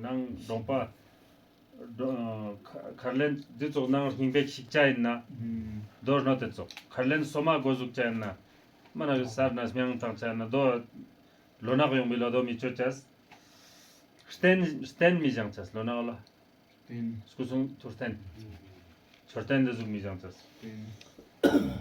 ནང་སྒྲོག་པ། གར་ལེན་འདི་ཚོགས་གནང་རོགས་སྙིང་པས་ཞིག་བྱ་ཡིན་ན། རྡོ་རི་ནོ་དེ་ཚོགས་གར་ལེན་སོ་མ་དགོས་གཟུགས་བྱ་ཡིན་ན། རྨ་ནག་གི་སར་ན་སྨྱང་བཏང་བྱ་ཡིན་ན་རྡོ། ལོ་ནག་ཡོང་པའི་ལོ་རྡོ་མི་སྤྱོད་བྱ། སྟན་སྟན་མི་བཞེངས་བྱ་ལོ་ནག་ལ། སྟན། སྐུ་གསུང་ཐུགས་སྟན། མཆོད་རྟེན་འདི་གཟུགས་མི་བཞེངས་བྱ། སྟན།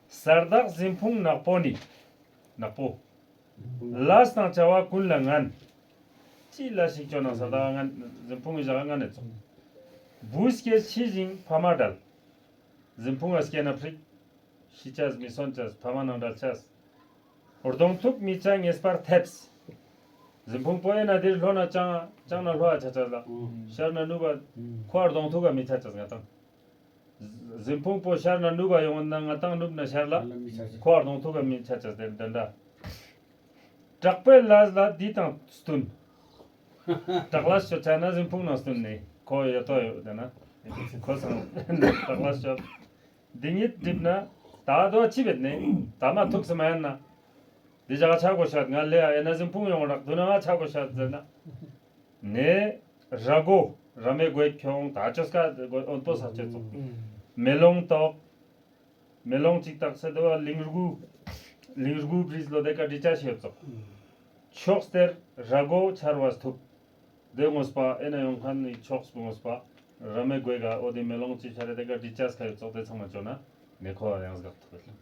གསར་བདག་གཟིམས་ཕུང་ནག་པོ་ནི། ནག་པོ། ལཱས་དང་བྱ་བ་ཀུན་ལ་ངན། ཅི་ལ་ཞིག་སྤྱོད་ན་གསར་བདག་ངན། གཟིམས་ཕུང་གི་བྱ་བ་སྔར་ནས་རྫོགས། བུ་སྐྱེས་ཕྱི་བཞིན་ཕ་མ་དགྲལ། གཟིམས་ཕུང་ལ་སྐྱེས་ན་འཕྲིག། ཤི་བྱ་མི་གསོན་བྱ་ཕ་མ་ནང་དགྲལ་བྱ། གདོང་ཐུག་མི་བྱ་ངེས་པར་ཐེབས། གཟིམས་ཕུང་པོ་ཡིན་ན་དེར་ལྷོ་ན་སྤྱང། སྤྱང་ན་ལྷོ་བ་བྱ་བྱ་ལ། ཤར་ན་ནུབ་བ། ཁོ་བར་གདོང་ཐུག་ག་མི་བྱ་བྱ་ངན་དང། གཟིམ་ཕུང་པོ་ཤར་ན་ནུབ་བ་ཡོང་བ་ན་ང་ཏང་ནུབ་ན་ཤར་ལ། ཁོ་བར་དང་ཐུག་ག་མིན་ཆ་ཆ་ཟེར་འདི་འདྲ། བྲག་པའི་ལ་ལ་འདི་དང་སྟུན། བྲག་ལ་ཤོད་ཆ་ན་གཟིམ་ཕུང་ནང་སྟུན་ནི་ཁོ་ཡོད་དོ་ཡོད་འདི་ན། ཁོ་སང་བྲག་ལ་ཤོད། འདི་ཉིད་བསྒྲིབས་ན་ད་རྡོ་ཨ་ཆི་བེད་ནི་ད་མ་ཐུག་སི་མ་ཡན་ན། འདི་བཞག་ཆ་གོ་ཤོད་ང་ལེ་ཨ་ཡན་ན་གཟིམ་ཕུང་ཡོང་རག་དུ་ན་ང་ཆ་གོ་ཤོད་ཟེར་ན། ནས། ར་གོ། ར་མེ་གོས་ཁྱོང་ད་ཅོ་སྐ་ད་གོས་ཨོ་ཏོ་ས་སྐྱེ་ཙོ། མེ་ལོང་ཏོག། མེ་ལོང་གཅིག་ཏག་སེ་ཏོ་ལིང་རྒུ། ལིང་རྒུ་བྲིས་ལོ་དེ་ཀ་བྲིས་ཅ་ཤེས་ཙོ། ཕྱོགས་སྟེར། ར་གོ་ཆར་བ་སཐུབ། དེ་ངོ་སྤ་ཨེ་ན་ཡོང་ཁ་ནི་ཕྱོགས་སྤུ་ངོ་སྤ། ར་མེ་གོས་ག་ཨོ་དེ་མེ་ལོང་གཅིག་ཤ་རེ་དེ་ཀ་བྲིས་ཅ་སྐ་ཡོད་ཙོ་དེ་ཚང་མ་ཅོ་ན། ནེ་ཁོ་ཡང་སྒག་ཐུབ་པའི་ལུགས།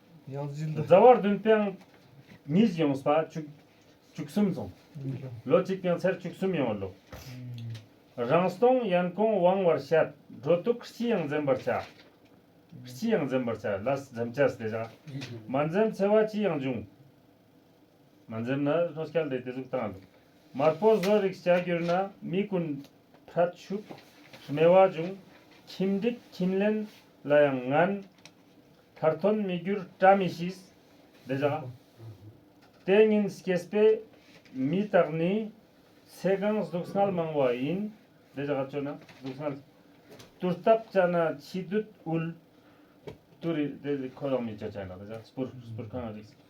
རྫ་བ་བདུན་དཔེང། ཉིས་བཞི་ཡོངས་ས་བཅུ་གསུམ་བཟུང། ལོ་གཅིག་དཔེང་ཚར་བཅུ་གསུམ་ཡོང་བ་ལོ། རང་སྟོང་གཡན་གོང་དབང་བར་བཤད། སྒྲོ་གཏུག་སྤྱི་ཡང་འཛིན་པར་བྱ། སྤྱི་ཡང་འཛིན་པར་བྱ་ལ་འཛེམ་བྱ་སྟེ་བྱ། མ་འཛེམ་འཚེ་བ་སྤྱི་ཡང་འབྱུང། མ་འཛེམ་ན་ལྷོ་སྐལ་ལྡན་དེ་གཟུགས་དང། དམར་པོ་བཟོ་རིགས་བྱ་གྱུར་ན་མི་ཀུན། ཕྲ་ཕྱུགས་སྨེ་བ་འབྱུང། ཁྱིམ་འགྲིག་ཁྱིམ་ལེན་ལ་ཡང་ངན། མཐར་ཐོན་མི་འགྱུར་བཀྲ་མི་ཤིས། འདི་བྱ། ལྟས་ངན་སྐྱེས་པའི་མི་དག་ནི། ཚེ་གང་གཟུགས་བསྔལ་མང་བ་ཡིན། འདི་བྱ་སྤྱོད་ན་གཟུགས་བསྔལ། དུར་བཏབ་བཅའ་ན་འཆི་བདུད་དབུལ། དུར་རིགས་དེ་ལས་ཁོ་ཡང་མི་བྱ་བྱས་ན་འདི་བྱ། སྤུར། སྤུར་གང་རིགས།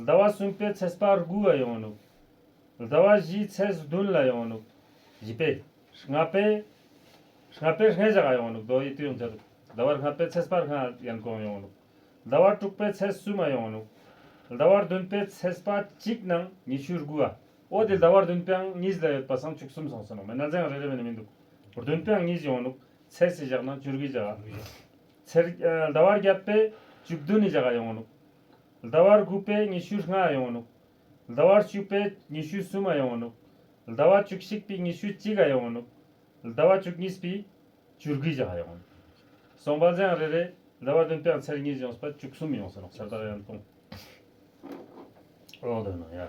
ཟླ་བ་གསུམ་པའི་ཚེས་དཔའ་དགུ་བ་ཡོང་ནུབ། ཟླ་བ་བཞིའི་ཚེས་བདུན་ལ་ཡོང་ནུབ། བཞི་པའི། ལྔ་པའི། ལྔ་པའི་ལྔའི་བྱ་དགའ་ཡོང་ནུབ་རྡོ་ཡི་དུས་ཡོངས་འཆར། ཟླ་བ་ལྔ་པའི་ཚེས་དཔའ་ལྔ་ཡན་གོང་ཡོང་ནུབ། ཟླ་བ་དྲུག་པའི་ཚེས་བསུ་མ་ཡོང་ནུབ། ཟླ་བ་བདུན་པའི་ཚེས་དཔའ་གཅིག་ནང་ཉི་ཤུའི་དགུ་བ། འོ་དེ་ཟླ་བ་བདུན་པའང་གཉིས་ལ་ཡོད་པ་སང་བཅུ་གསུམ་སོང་ཟིན་ནོ་མེད་ན་ཚེས་ཡང་རེ་རེ་བས་ནི་མི་འདུག་བདུན་པའང་གཉིས་ཡོང་ནུབ། ཚེས་ཀྱི་བཞག་ན་བཅུ་དགུའི་བྱ་དགའ། ཚེར། ཟླ་བ་བརྒྱད་པའི་བཅུ་བདུན་ནི་བྱ་དགའ་ཡོང་ནུབ། ཟླ་བར་དགུ་པའི་ཉི་ཤུའི་ལྔ་ཡོང་ནུབ། ཟླ་བར་བཅུ་པའི་ཉི་ཤུའི་གསུམ་ཨ་ཡོང་ནུབ། ཟླ་བ་བཅུ་གཅིག་པའི་ཉི་ཤུའི་གཅིག་ཨ་ཡོང་ནུབ། ཟླ་བ་བཅུ་གཉིས་པའི་བཅུར་དགུའི་བརྒྱ་ཧ་ཡོང་ནུབ། སོང་པ་འཛིན་ཨང་རེ་རེ། ཟླ་བ་བདུན་པའང་ཚེར་གཉིས་ཡོང་སྲིད་པ་བཅུ་གསུམ་ཡོང་སྲིད་ནོག་ཆར་དག་ཡང་སྟོང། ཨོ་དོ་ནོ་ཡ།